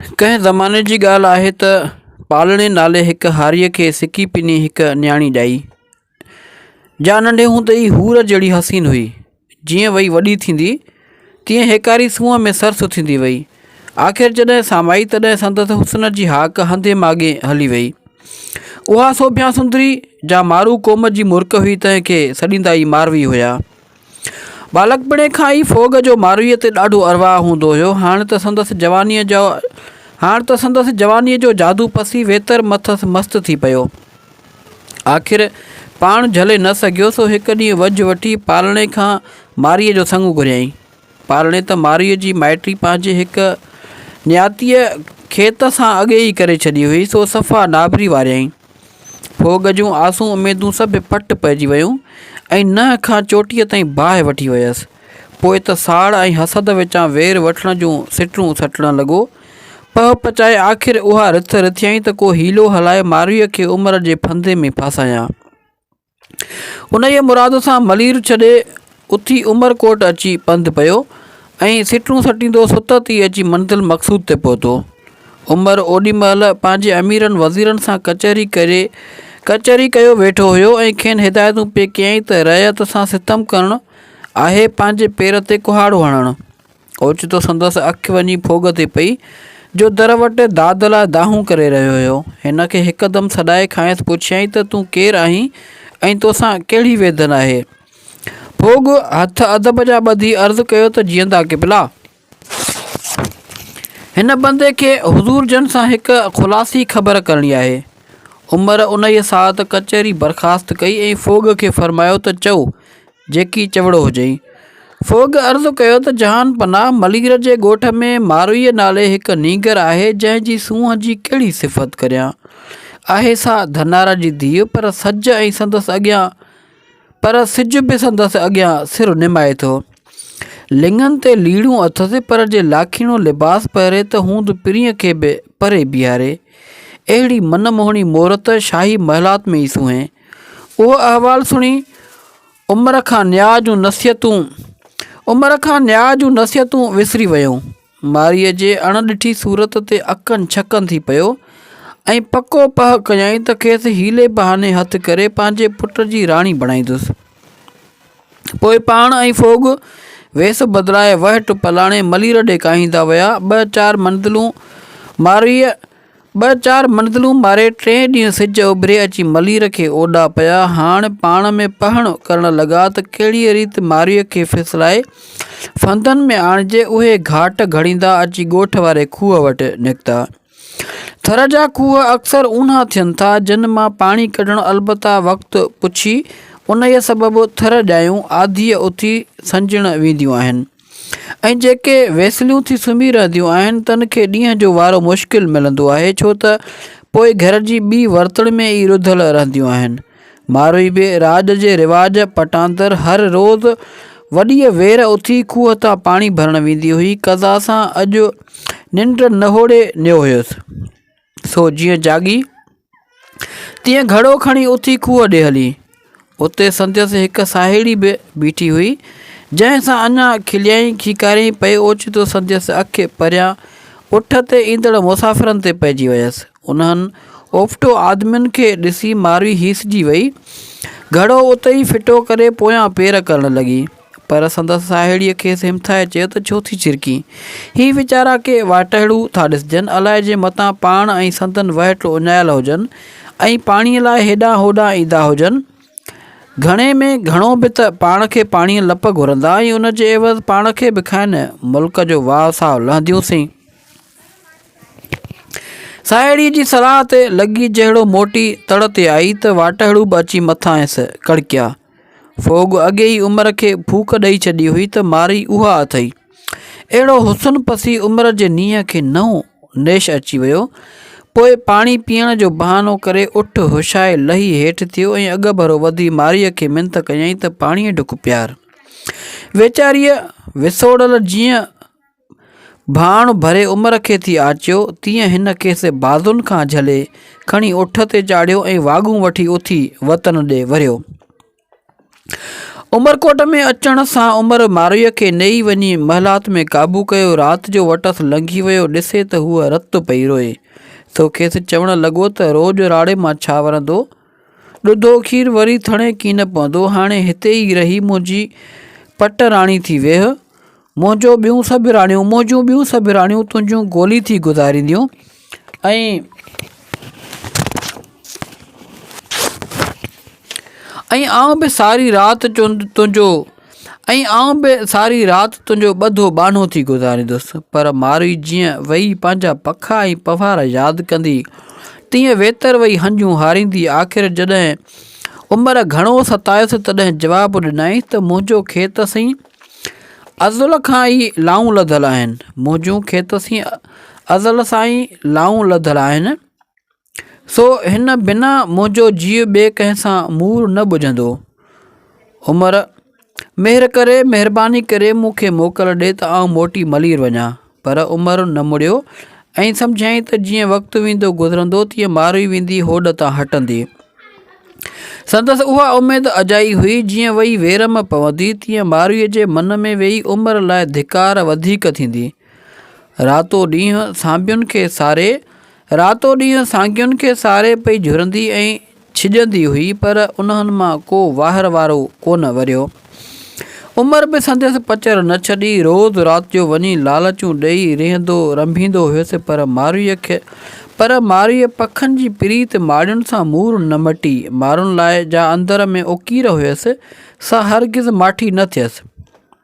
ڪنهن زماني جي ڳالهه آهي ته پالڻي نالي هڪ هاريء کي سڪي پني هڪ نياڻي ڄائي، جا ننڍي هوندي ئي حور جهڙي حسين هئي. جيئن وئي وڏي ٿيندي، تيئن هيڪاري سونهن ۾ سر سٿيندي وئي. آخر جڏهن سامائي تڏهن سندس حسن جي هاڪ هنڌين ماڳين هلي وئي. اها سوڀيان سندري، جا مارو قوم جي مرڪ هئي تنهن کي سڏيندا ئي ماروي هيا. ٻالڪپڻي کان ئي فوگ جو مارويء تي ڏاڍو ارواه هوندو هيو. هاڻ ته سندس جوانيء جو هاڻ ته سندس جوانيء جو جادو پسي ويتر مٿس مست ٿي پيو. آخر پاڻ جهلي نه سگهيو سو هڪ ڏينهن وجهه وٺي پالڻي کان مارئيء جو سڱ گهريائين. پالڻي ته مارئيء جي مائٽي پنهنجي هڪ نياتيء کيت سان اڳي ئي ڪري ڇڏي هئي سو صفا نابري واريائين. ڀوڳ جون آسون اميدون سڀ پٽ پئجي ويون ۽ ننهن کان چوٽيء تائين باهه وٺي ويس. پوء ته ساڙ ۽ حسد وچان وير وٺڻ جون سٽون سٽڻ لڳو. پهه پچائي آخر اها رٿ رٿيائين ته ڪو حيلو هلائي مارويء کي عمر جي ڦندي ۾ ڦاسايان. انهيء مراد سان ملير ڇڏي اٿي عمر ڪوٽ اچي پنڌ پيو ۽ سٽون سٽيندو ستت ئي اچي منزل مقصود تي پهتو. عمر اوڏي مهل پنهنجي اميرن وزيرن سان ڪچهري ڪري ڪچهري ڪيو ويٺو هيو ۽ کين هدايتون پئي ڪيائين ته رعيت سان ستم ڪرڻ آهي پنهنجي پير تي ڪهاڙو هڻڻ. اوچتو سندس اک وڃي ڦوڳ تي پئي، جو در وٽ داد لاء دانهون ڪري رهيو هيو. هن کي هڪدم سڏائي کانئس پڇيائين ته تون ڪير آهين ۽ توسان ڪهڙي ويڌن آهي؟ ڦوڳ هٿ ادب جا ٻڌي عرض ڪيو ته جيئندا قبلا! هن بندي کي حضور جن سان هڪ خلاصي خبر ڪرڻي آهي. عمر انهيء ساعت ڪچهري برخاست ڪئي ۽ ڦوڳ کي فرمايو ته چئو، جيڪي چوڙو هجئي. فوگ عرض ڪيو ته جهان پناهه ملير جي ڳوٺ ۾ مارويء نالي هڪ نينگر آهي جنهن جي سونهن جي ڪهڙي صفت ڪريان. آهي سا ڌنار جي ڌيء پر سج ۽ سندس اڳيان پر سج به سندس اڳيان سر نمائي ٿو. لڱن تي ليڙون اٿس پر جي لاکيڻو لباس پهري ته هوند پرينء کي به پري بيهاري. اهڙي من موهڻي مورت شاهي محلات ۾ ئي سونهي. اهو احوال سڻي عمر کان نياء جون نصيحتون عمر کان نياء جون نصيحتون وسري ويو. ماريء جي اڻ ڏٺي صورت تي اڪن ڇڪن ٿي پيو ۽ پڪو پهه ڪيائين ته کيس حيلي بهاني هٿ ڪري پنهنجي پٽ جي راڻي بڻائيندس. پوء پاڻ ۽ ڦوڳ ويس بدلائي وهٽ پلاڻي ملير ڏي ڪاهيندا ويا. ٻه چار منزلون ماريء ٻه چار منزلون ماري ٽئين ڏينهن سج اڀري اچي ملير کي اوڏا پيا. هاڻ پاڻ ۾ پهڻ ڪرڻ لڳا ته ڪهڙيء ريت مارئيء کي ڦسلائي ڦندن ۾ آڻجي اهي گهاٽ گهڙيندا اچي ڳوٺ واري کوهه وٽ نڪتا. ٿر جا کوهه اڪثر اونها ٿين ٿا، جن مان پاڻي ڪڍڻ البته وقت پڇي انهيء سبب ٿر ڄايون آڌيء اٿي سنجهڻ وينديون آهن. ۽ جيڪي ويسليون ٿي سمهي رهنديون آهن تن کي ڏينهن جو وارو مشڪل ملندو آهي ڇو ته پوء گهر جي ٻي ورتڻ ۾ ئي رڌل رهنديون آهن. ماروئي به راڄ جي رواج پٽاندر هر روز وڏيء وير اٿي کوهه تان پاڻي ڀرڻ ويندي هئي. قضا سان اڄ ننڊ نهوڙي نيو هيس. سو جيئن جاڳي، تيئن گهڙو کڻي اٿي کوهه ڏي هلي. اتي سندس هڪ ساهيڙي به بيٺي هئي، جنهن سان اڃا کليائين کيڪاريائين پئي اوچتو سندس اک پريان اٺ تي ايندڙ مسافرن تي پئجي ويس. انهن اوڦٽو آدمين کي ڏسي ماروي هيسجي ويئي. گهڙو اتي ئي ڦٽو ڪري پويان پير ڪرڻ لڳي. پر سندس ساهيڙيء کيس همٿائي چيو ته ڇو ٿي ڇرڪين؟ هي ويچارا ڪي واٽهڙو ٿا ڏسجن، الائي جي متان پاڻ ۽ سندن وهٽ اڃايل هجن ۽ پاڻيء لاء هيڏانهن هوڏانهن ايندا هجن. گهڻي ۾ گهڻو به ته پاڻ کي پاڻيء لپ گهرندا ۽ ان جي عيوض پاڻ کي به کائن. ملڪ جو واهه ساهه لهنديونسين. ساهيڙيء جي صلاح تي لڳي جهڙو موٽي تڙ تي آئي ته واٽهڙو به اچي مٿانئس ڪڙڪيا. ڦوڳ اڳي ئي عمر کي ڦوڪ ڏئي ڇڏي هئي ته مارئي اها اٿئي. اهڙو حسن پسي عمر جي نينهن کي نئون نيش اچي ويو. پوء پاڻي پيئڻ جو بهانو ڪري اٺ هشائي لهي هيٺ ٿيو ۽ اڳڀرو وڌي مارئي کي منٿ ڪيائين ته پاڻيء ڍڪ پيار. ويچاريء وسوڙل جيئن ڀاڻ ڀري عمر کي ٿي آچيو، تيئن هن کيس بازن کان جهلي، کڻي اٺ تي چاڙهيو ۽ واڳون وٺي اٿي وطن ڏي وريو. عمرڪوٽ ۾ اچڻ سان عمر مارويء کي نيئي وڃي محلات ۾ قابو ڪيو. رات جو وٽس لنگهي ويو، ڏسي ته هوء رت پئي روئي. سو کيس چوڻ لڳو ته روڄ راڙي مان ڇا ورندو؟ ڏڌو کير وري ٿڻي ڪين پوندو، هاڻي هتي ئي رهي منهنجي پٽ راڻي ٿي ويهه. منهنجو ٻيون سڀ راڻيون، منهنجون ٻيون سڀ راڻيون تنهنجون گولي ٿي گذارينديون ۽ ۽ آئون به ساري رات تنهنجو ۽ آئون به ساري رات تنهنجو ٻڌو ٻانهو ٿي گذاريندس. پر مارئي جيئن ويئي پنهنجا پکا ۽ پنهوار ياد ڪندي، تيئن ويتر ويئي هنجون هاريندي آخر جڏهن عمر گهڻو ستايس تڏهن جواب ڏنائين ته منهنجو کيت سين ازل کان ئي لائون لڌل آهن، منهنجون کيت سين ازل سان ئي لائون لڌل آهن. سو هن بنا منهنجو جيء ٻئي ڪنهن سان مور نه ٻجهندو. عمر، مهر ڪري، مهرباني ڪري مون کي موڪل ڏي ته آئون موٽي ملير وڃان. پر عمر نه مڙيو ۽ سمجهيائين ته جيئن وقت ويندو گذرندو تيئن ماروئي ويندي هوڏ تان هٽندي. سندس اها اميد اجائي هئي جيئن وئي ويرم پوندي تيئن ماروئي جي من ۾ ويهي عمر لاء ڌڪار وڌيڪ ٿيندي. راتو ڏينهن سانڀين کي ساري. راتو ڏينهن سانگين کي ساري پئي جهرندي ۽ ڇڄندي هئي، پر انهن مان ڪو واهر وارو ڪونه وريو. عمر به سندس پچر نه ڇڏي. روز رات جو وڃي لالچون ڏئي ريهندو رنڀيندو هيس، پر مارويء کي پر مارويء پکن جي پريت ماڙين سان مور نه مٽي. مارن لاء جا اندر ۾ اوڪير هيس، سا هرگز ماٺي نه ٿيس.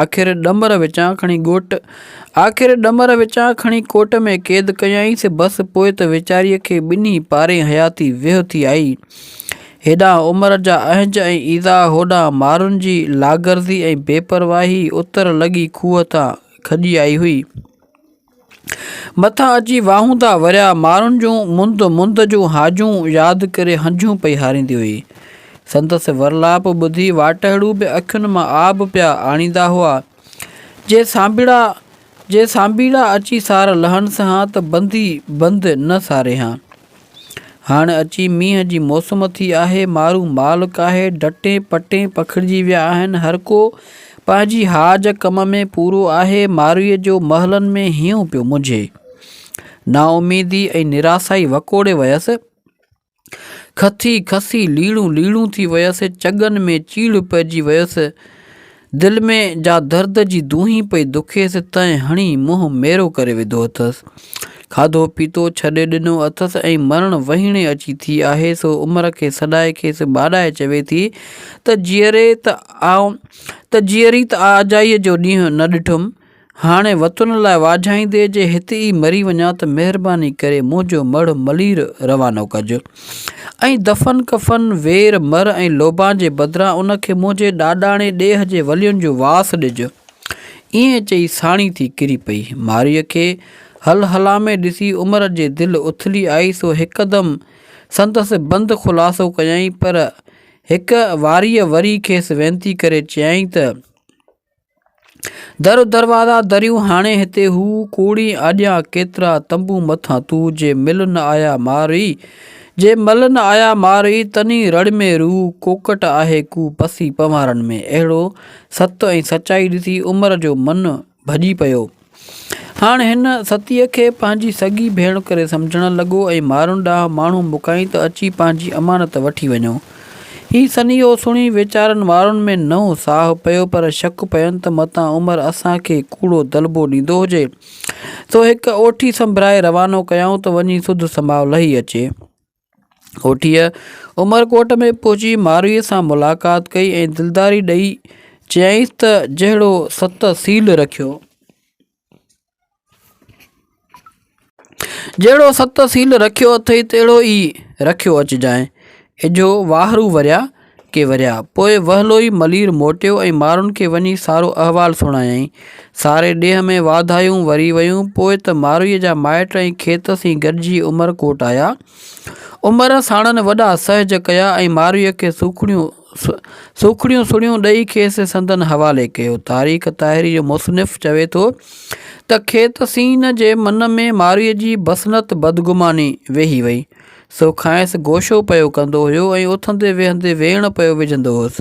آخر ڏمر وچان کڻي ڳوٽ آخر ڏمر وچان کڻي ڪوٽ ۾ قيد ڪيائين سي بس پوء ته ويچاريء کي ٻنهي پارين حياتي ويهه ٿي آئي. هيڏانهن عمر جا اهنج ۽ ايذاء هوڏانهن مارن جي لاغرضي ۽ بي پرواهي اتر لڳي کوهه تان کڄي آئي هئي. مٿان اچي واهوندا وريا مارن جون مند مند جون هاجون ياد ڪري هنجون پئي هاريندي هئي. سندس ورلاپ ٻڌي واٽهڙو به اکين مان آب پيا آڻيندا هئا. جي سانڀيڙا جي سانڀيڙا اچي سار لهن سهان ته بندي بند نه ساري هان. هاڻ اچي مينهن جي موسم ٿي آهي، مارو مال ڪاهي ڊٽين پٽين پکڙجي ويا آهن، هرڪو پنهنجي حاج ڪم ۾ پورو آهي، مارويء جو محلن ۾ هينئون پيو مجهي. نااميدي ۽ نراسائي وڪوڙي ويس، کٿي کسي ليڙون ليڙون ٿي ويس، چڳن ۾ چيڙهه پئجي ويس، دل ۾ جا درد جي دونهين پئي دکيس تنهن هڻي منهن ميرو ڪري وڌو اٿس. کاڌو پيتو ڇڏي ڏنو اٿس ۽ مرڻ وهيڻي اچي ٿي آهي سو عمر کي سڏائي کيس ٻاڏائي چوي ٿي ته جيئري ته آء ته جيئري ته آء اجائي جو ڏينهن نه ڏٺم هاڻي وطن لاء واجهائيندي جي هت ئي مري وڃان ته مهرباني ڪري منهنجو مڙهه ملير روانو ڪج ۽ دفن ڪفن وير مر ۽ لوبان جي بدران ان کي منهنجي ڏاڏاڻي ڏيهه جي ولين جو واس ڏج. ائين چئي ساڻي ٿي ڪري پئي. مارئيء کي هل هلا ۾ ڏسي عمر جي دل اٿلي آئي سو هڪدم سندس بند خلاصو ڪيائين پر هڪ واريء وري کيس وينتي ڪري چيائين ته. در و دروازا دريون هاڻي هتي هو ڪوڙي آڏيان ڪيترا تنبو مٿان تو جي مل نه آيا مارئي جي مل نه آيا مارئي تني رڙ ۾ روح ڪوڪٽ آهي ڪو پسي پنوارن ۾ اهڙو ست ۽ سچائي ڏسي عمر جو من ڀڄي پيو هاڻ هن ستيء کي پنهنجي سڳي ڀيڻ ڪري سمجهڻ لڳو ۽ مارون ڏانهن ماڻهو موڪلائين ته اچي پنهنجي امانت وٺي وڃو. هي سنيهو سڻي ويچارن مارون ۾ نئون ساهه پيو پر شڪ پين ته متان عمر اسان کي ڪوڙو دلبو ڏيندو هجي. سو هڪ اوٺي سنڀرائي روانو ڪيائون ته وڃي سڌ سماء لهي اچي. هوٺيء عمرڪوٽ ۾ پهچي مارويء سان ملاقات ڪئي ۽ دلداري ڏئي چيائينس ته جهڙو ست سيل رکيو. جهڙو ست سيل رکيو اٿئي تهڙو ئي رکيو اچجانء. اجهو واهرو وريا. ڪي وريا. پوء وهلوئي ملير موٽيو ۽ مارن کي وڃي سارو احوال سڻايائين. ساري ڏيهه ۾ واڌايون وري ويون. پوء ته ماروئيء جا مائٽ ۽ کيت سين گڏجي عمر ڪوٽ آيا. عمر ساڻن وڏا سهج ڪيا ۽ ماروئيء کي سوکڙيون سوکڙيون سڻيون ڏئي کيس سندن حوالي ڪيو. تاريخ طاهري جو مصنف چوي ٿو ته کيت سين جي من ۾ ماروئيء جي بسنت بدگماني ويهي وئي. سو کانئس گوشو پيو ڪندو هيو ۽ اٿندي ويهندي ويڻ پيو وجهندو هوس.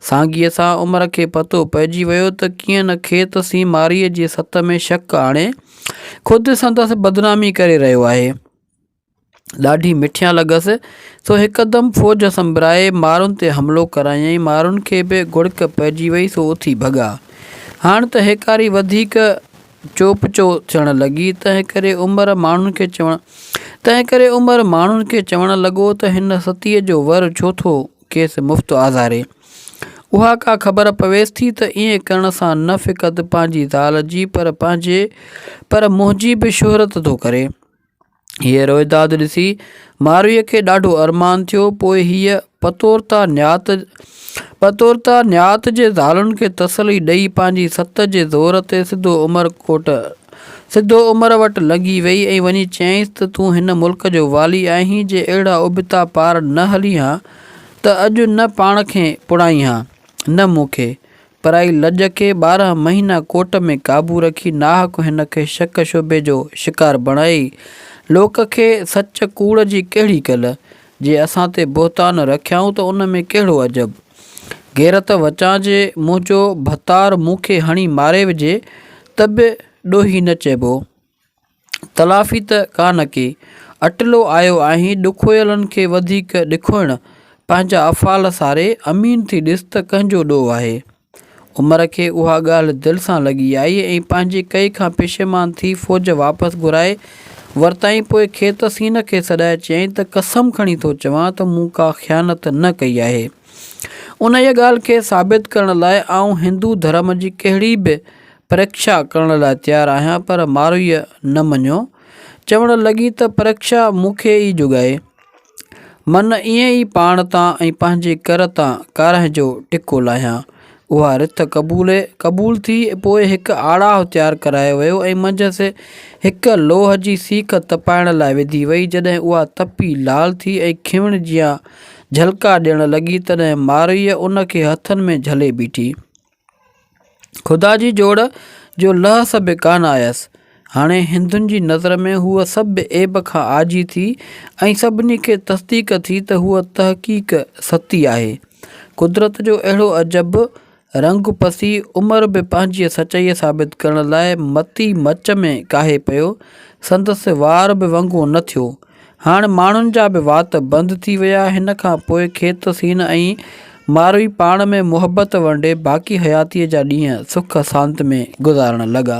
سانگيء سان عمر کي پتو پئجي ويو ته ڪيئن نه کيت سين مارئيء جي ست ۾ شڪ آڻي، خود سندس بدنامي ڪري رهيو آهي. ڏاڍي مٺيان لڳس، سو هڪدم فوج سنبرائي مارن تي حملو ڪرايائين. مارن کي به گڙڪ پئجي وئي، سو اٿي ڀڳا. هاڻ ته هيڪاري وڌيڪ چوپ چو ٿيڻ لڳي، تنهنڪري عمر ماڻهن کي چوڻ تنهنڪري عمر ماڻهن کي چوڻ لڳو ته هن ستيء جو ور ڇو ٿو کيس مفت آزاري. اها ڪا خبر پويس ٿي ته ائين ڪرڻ سان نه فقط پنهنجي زال جي پر پنهنجي پر منهنجي به شهرت ٿو ڪري. هيء روئداد ڏسي مارويء کي ڏاڍو ارمان ٿيو. پوء هيء پتورتا نيات پتورتا نيات جي زالن کي تسلي ڏيئي پنهنجي ست جي زور تي سڌو عمر ڪوٽ سڌو عمر وٽ لنگهي ويئي ۽ وڃي چيائينس ته تون هن ملڪ جو والي آهين، جي اهڙا ابتا پار نه هلين ها ته اڄ نه پاڻ کي پڙهائين ها نه مون کي. پرائي لڄ کي ٻارهن مهينا ڪوٽ ۾ قابو رکي ناحق هن کي شڪ شبهي جو شڪار بڻائي لوڪ کي سچ ڪوڙ جي ڪهڙي ڪل؟ جي اسان تي بهتان رکيائون ته ان ۾ ڪهڙو عجب؟ غيرت وچان جي منهنجو ڀتار مون کي هڻي ماري وجهي ته به ڏوهي نه چئبو. تلافي ته ڪا نه ڪي، اٽلو آيو آهين ڏکويلن کي وڌيڪ ڏکوئڻ، پنهنجا افعال ساري، امين ٿي ڏس ته ڪنهن جو ڏوهه آهي. عمر کي اها ڳالهه دل سان لڳي آئي ۽ پنهنجي ڪئي کان پشيمان ٿي فوج واپس گهرائي ورتائين پوء کيت سين کي سڏائي چيائين ته قسم کڻي ٿو چوان ته مون ڪا خيانت نه ڪئي آهي. انهيء ڳالهه کي ثابت ڪرڻ لاء آئون هندو ڌرم جي ڪهڙي به پريکشا ڪرڻ لاء تيار آهيان پر مارويء نه مڃيو. چوڻ لڳي ته پريکشا مون کي ئي جڳائي. من ائين ئي پاڻ تان ۽ پنهنجي ڪر تان ڪارنهن جو ٽڪو لاهيان. اها رٿ قبولي قبول ٿي. پوء هڪ آڙاهه تيار ڪرايو ويو ۽ منجهس هڪ لوهه جي سيخ تپائڻ لاء وڌي وئي. جڏهن اها تپي لال ٿي ۽ کيوڻ جيان جهلڪا ڏيڻ لڳي تڏهن مارويء ان کي هٿن ۾ جهلي بيٺي. خدا جي جوڙ جو لحس به ڪانه آيس. هاڻي هندن جي نظر ۾ هوء سڀ عيب کان عاجي ٿي ۽ سڀني کي تصديق ٿي ته هوء تحقيق ستي آهي. قدرت جو اهڙو عجب، رنگ پسي عمر به پنهنجيء سچائيء ثابت ڪرڻ لاء متي مچ ۾ ڪاهي پيو. سندس وار به ونگو نه ٿيو. هاڻ ماڻهن جا به وات بند ٿي ويا. هن کان پوء کيت سين ۽ ماروي پاڻ ۾ محبت ورنڊي باقي حياتيء جا ڏينهن سک سانت ۾ گذارڻ لڳا.